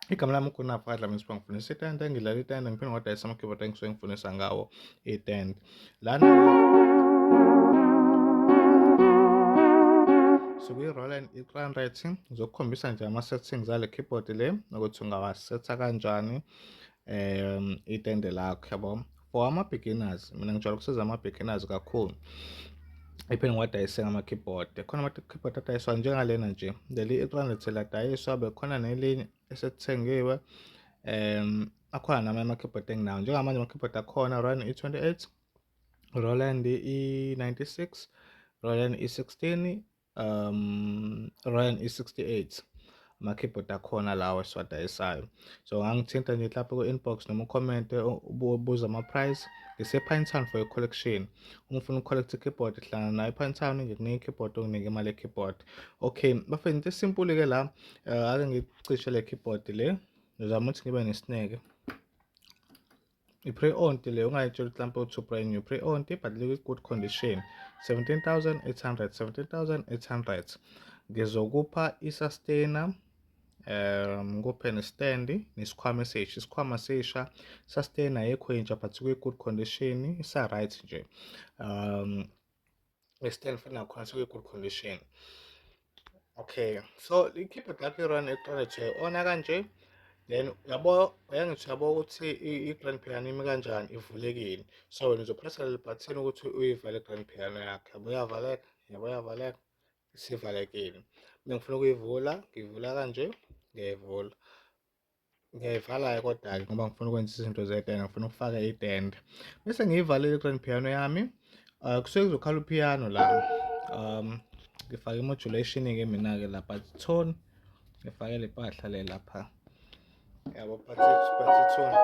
igama lami ukhona phakathi lami siba ngifundisa itende ngidlala itende ngiphinde ngadayisa ama-keyboard engisuke ngifundisa ngawo itende lana sikuyi-roland i-crown rating ngizokukhombisa nje ama-settings ale keyboard le ukuthi ungawasetha kanjani um itende lakho yabo for ama-beginners mina ngijwayele ukusiza ama-beginners kakhulu iphinde ngiwadayise ngama-keyboard khona ama-keyboard adayiswa njengalena nje leli i-300 ladayiswa bekhona nelinye esethengiwe um akhona namanye ama-keyboard enginawo njengamanje ama-keyboard akhona run i-28 roland i-96 roland i-16 um Ryan i68 ama keyboard akhona lawa esiwadayisayo so ngangithinta nje lapho ku inbox noma ucomment ubuza ama price ngise Pine Town for a collection uma ufuna ucollect keyboard hlangana nayo Pine Town ngikunika keyboard onginike imali keyboard okay bafethu into simple ke la eh, ake ngicishe le keyboard le ngizama ukuthi ngibe nesineke I-pre-owned le ungayitshela ukuthi mhlawumpe u-two brand new pre-owned but likwi-good condition 17800 17800 ngizokupha i-sustainer um ngikuphe ne-stand nesikhwama esisha isikhwama sisha sustainer yekho yintsha but kwi-good condition isa-right nje um we stand for now khona sekwi-good condition okay so likhiphe lapho i-run eqala nje ona kanje then yabo uyangithi yabo ukuthi i-grand piano imi kanjani ivulekile so wena uzopressa leli bhathini ukuthi uyivale i-grand piano yakhe yabo uyavaleka yabo uyavaleka isivalekile bengifuna ukuyivula ngiyivula kanje ngiyayivula Ngiyayivala-ke kodwa-ke ngoba ngifuna ukwenza izinto zetende, ngifuna ukufaka itende. Bese ngiyivalile i-grand piano yami. Uh, kusuke kuzokhala upiano la. Um, ngifake i-modulation-ke mina-ke la but tone ngifake le mpahla le lapha. Yabo but but tone.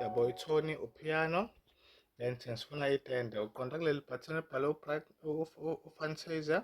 Yabo itone upiano then sifuna itende uqonda kuleli button ebhale u-fantasia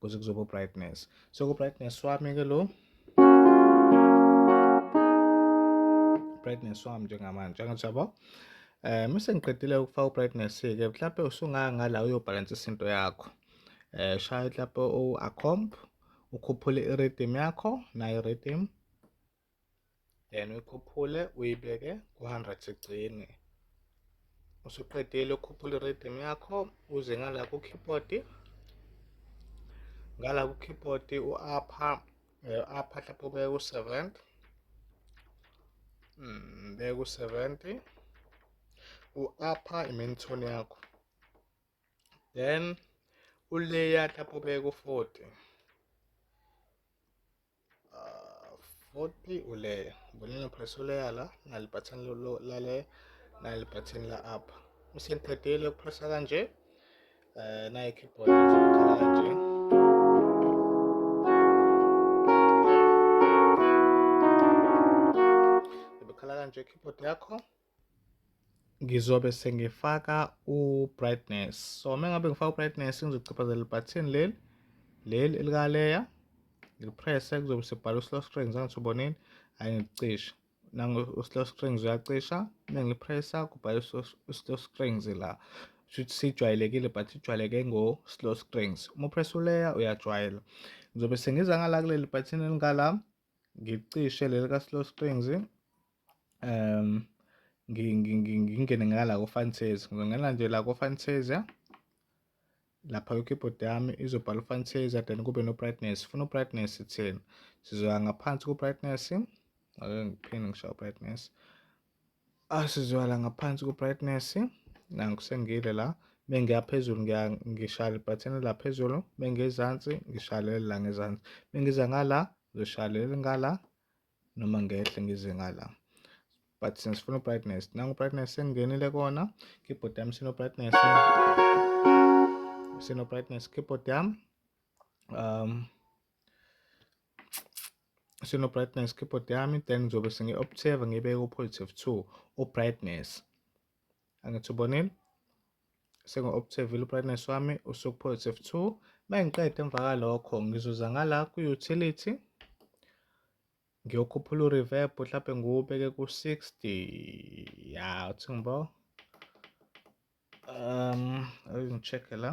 kuze kuzoba ubrightness so kubrightness wami ke lo brightness wami njengamanje angathi yabo eh mase ngiqedile ukufaka ubrightness ke mhlawumbe usungaya ngala uyobhalansa isinto yakho eh shaya mhlawumbe u-accomp ukhuphule i-rhythm yakho nayo i-rhythm then uyikhuphule uyibeke ku-hundred sigcine usuqedile ukhuphula i-rhythm yakho uze ngala ku-keyboard ngala ku-keyboard u-apha u-apha eh, hlapha ubeke ku-seventy mm, beke ku-seventy u-apha i-main tone yakho then uleya hlapha ubeke ku-forty Futhi uleya bonela press uleya la nali button la le nali button la up usengiqedile ukupressa kanje um nayi keyboard izokhala kanje ibikhala kanje keyboard yakho ngizobe sengifaka u-brightness so uma ngabe ngifaka u-brightness ngizochaphazela ibhathini leli leli elikaleya ngipresse kuzobe sekubhala u-slow strings angithubonini ayi ngikucisha nangu-slow strings uyacisha uma ngipressa kubhala u-slow strings la shuthi sijwayelekile but ijwayeleke ngo-slow strings uma upressa uleya uyajwayela ngizobe sengiza ngala kuleli bhathini elingala Ngicishe leli ka-Slow Springs um ngingene ngala ko-Fantasia ngizongena nje la ko-Fantasia lapha kwi-keyboard yami izobhala u-Fantasia then kube no-brightness funa u-brightness thina sizoya ngaphansi ku-brightness ake ngiphinde ngishaye u-brightness Asizwala ngaphansi ku-brightness nanku sengile la mengiya phezulu ngiya ngishaya libhathini la phezulu mengezansi ngishaya leli la ngezansi mengiza ngala ngishaya leli ngala noma ngehle ngize ngala but since funa brightness nangu brightness sengingenile kona keyboard yami sino brightness sino brightness keyboard yami um sino-brightness keyboard yami then ngizobe sengi-observe ngibeke u-positive two u-brightness angithi ubonile sengi-observile u-brightness wami usuku-positive two uma ngiqeda emva kwalokho ngizoza ngala ku-utility ngiyokhuphula u-reverb mhlawumbe ngiwubeke ku-60 ya uthi ngibo um ngi-check-e la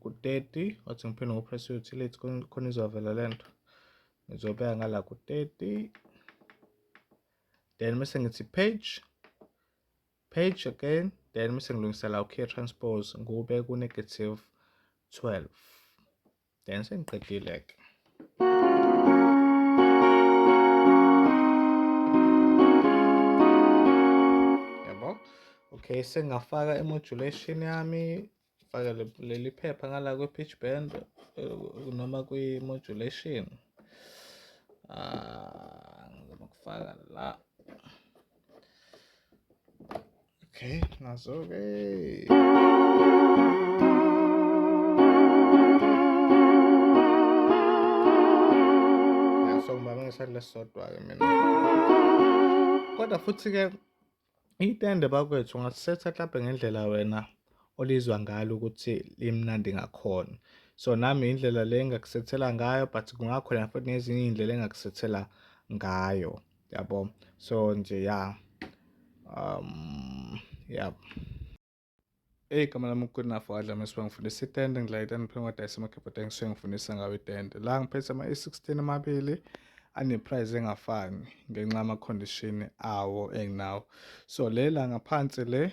ku-30 wathi ngiphinde ngopress utility khona izovela le nto ngizobeka ngala ku-30 then mese ngithi page page again then mese ngilungisela u-care transpose ngube ku-negative 12 then sengiqedile ke yabo okay sengafaka imodulation yami faka leli phepha ngala kwe-pitch band eh, noma kwi-modulation ah ngizama kufaka la Okay, nazo-ke. so ngiba ngisale sodwa-ke mina kodwa futhi-ke itende bakwethu ungasisetha mhlampe ngendlela wena olizwa ngalo ukuthi limnandi ngakhona so nami indlela le engakusethela ngayo but kungakhona futhi nezinye iy'ndlela engakusethela ngayo yabo so nje ya um ya Hey igama lami uKunafo Adlame siba ngifundisa itende ngidlala itende ngiphe ngodayisa emakhephotha ngisuke ngifundisa ngawo itende la ngiphethe ama-e16 amabili aneprice engafani ngenxa yama-condition awo enginawo so le la ngaphansi le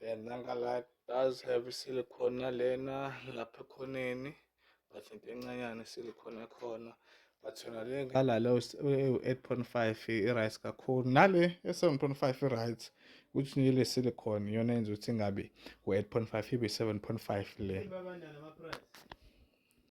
Yeah, Nanga Light does have silicone nalena lapha ekhoneni but into encanyane silicone ekhona but yona le ngala lo u-8.5 i-right kakhulu nale e-7.5 i-right ukuthi nje le silicone iyona yenza ukuthi ingabi u-8.5 ibe 7.5 le